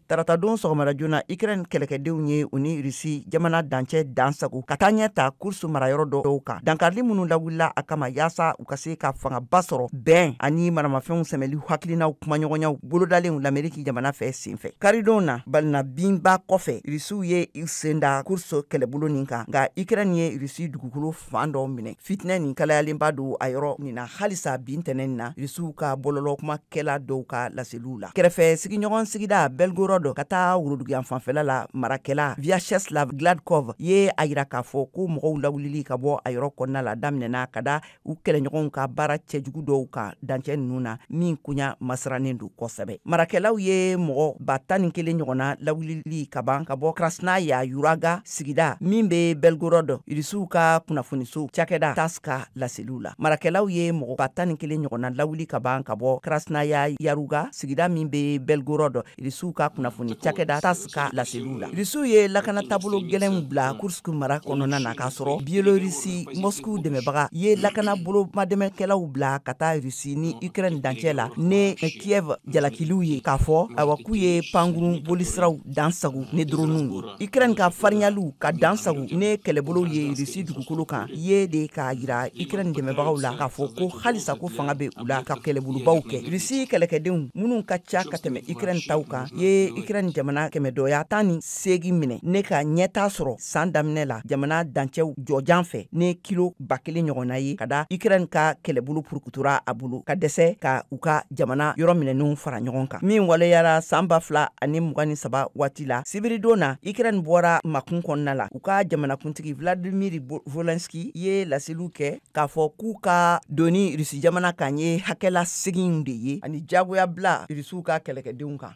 tarata don sɔgɔmada joona ukraine kɛlɛkɛdenw ye u ni rusi jamana dancɛ dan sago ka taa ɲɛ ta kursk marayɔrɔ dɔw kan dankarili minnu lawulila a kama yaasa u ka se ka fangaba sɔrɔ bɛn ani maramafɛnw sɛmɛli hakilinaw kumaɲɔgɔnyaw bolodalenw lameriki jamana fɛ senfɛ karidon na balina binba kɔfɛ rusiw ye u sen da kursk kɛlɛbolo nin kan nka ukraine ye rusi dugukolo fan dɔ minɛ fitinɛ nin kalayalenba don a yɔrɔ nin na halisa bi ntɛnɛn nin na rusiw ka bɔlɔlɔ kumakɛla dɔw ka laseliw la kɛrɛfɛ sigiɲɔgɔn sigida belgorod ka taa woroduguyan fanfɛla la marakɛla viacheslav gladkov ye a yira k'a fɔ ko mɔgɔw lawulili ka bɔ a yɔrɔ kɔnɔna la daminɛna ka da u kɛlɛɲɔgɔnw ka baara cɛjugu dɔw kan dancɛ ninnu na min koɲa masirannen don kosɛbɛ marakɛlaw ye mɔgɔ ba tan ni kelen ɲɔgɔnna lawulili kaban ka bɔ krasnaya yuraga sigida min be belgorod rusiw ka kunnafoniso cakɛda tass ka laseliw la marakɛlaw ye mɔgɔ ba tan ni kelen ɲɔgɔnna lawuli kaban ka bɔ krasnaya yaruga sigida min be belgorod rusiw ka kunnafoni cakɛda tass ka laseliw la rusiw ye lakana taabolo gɛlɛnw bila kursk mara kɔnɔna na k'a sɔrɔ biélorussie moscou dɛmɛbaga ye lakana bolo madɛmɛkɛlaw bila ka taa rusi ni ukraine dancɛ la ne kiev jalakiliw ye k'a fɔ awa k'u ye pankurun bolisiraw dan sago ni doronuw ye Ukraine ka farinyaliw ka dan sago ne kɛlɛbolow ye Russie dugukolo kan ye de k'a yira Ukraine dɛmɛbagaw la k'a fɔ ko halisa ko fanga be u la ka kɛlɛbolobaw kɛ. Russie kɛlɛkɛdenw minnu ka ca ka tɛmɛ Ukraine taw kan ye Ukraine jamana kɛmɛdɔya tan ni seegin minɛ ne ka ɲɛtaa sɔrɔ san daminɛ la jamana dancɛw jɔjan fɛ ne kilo ba kelen ɲɔgɔnna ye ka da ukraine ka kɛlɛbolo purukutura a bolo ka dɛsɛ ka u ka jamana yɔrɔ minɛninw fara ɲɔgɔn kan min waleyara san ba fila ani mugan ni saba waati la sibiridon na ukraine bɔra makun kɔnɔna la u ka jamanakuntigi vladimir volenski ye laseliw kɛ k'a fɔ k'u ka donni rusi jamana kan ye hakɛ laseginw de ye ani jagoya bila rusiw ka kɛlɛkɛdenw kan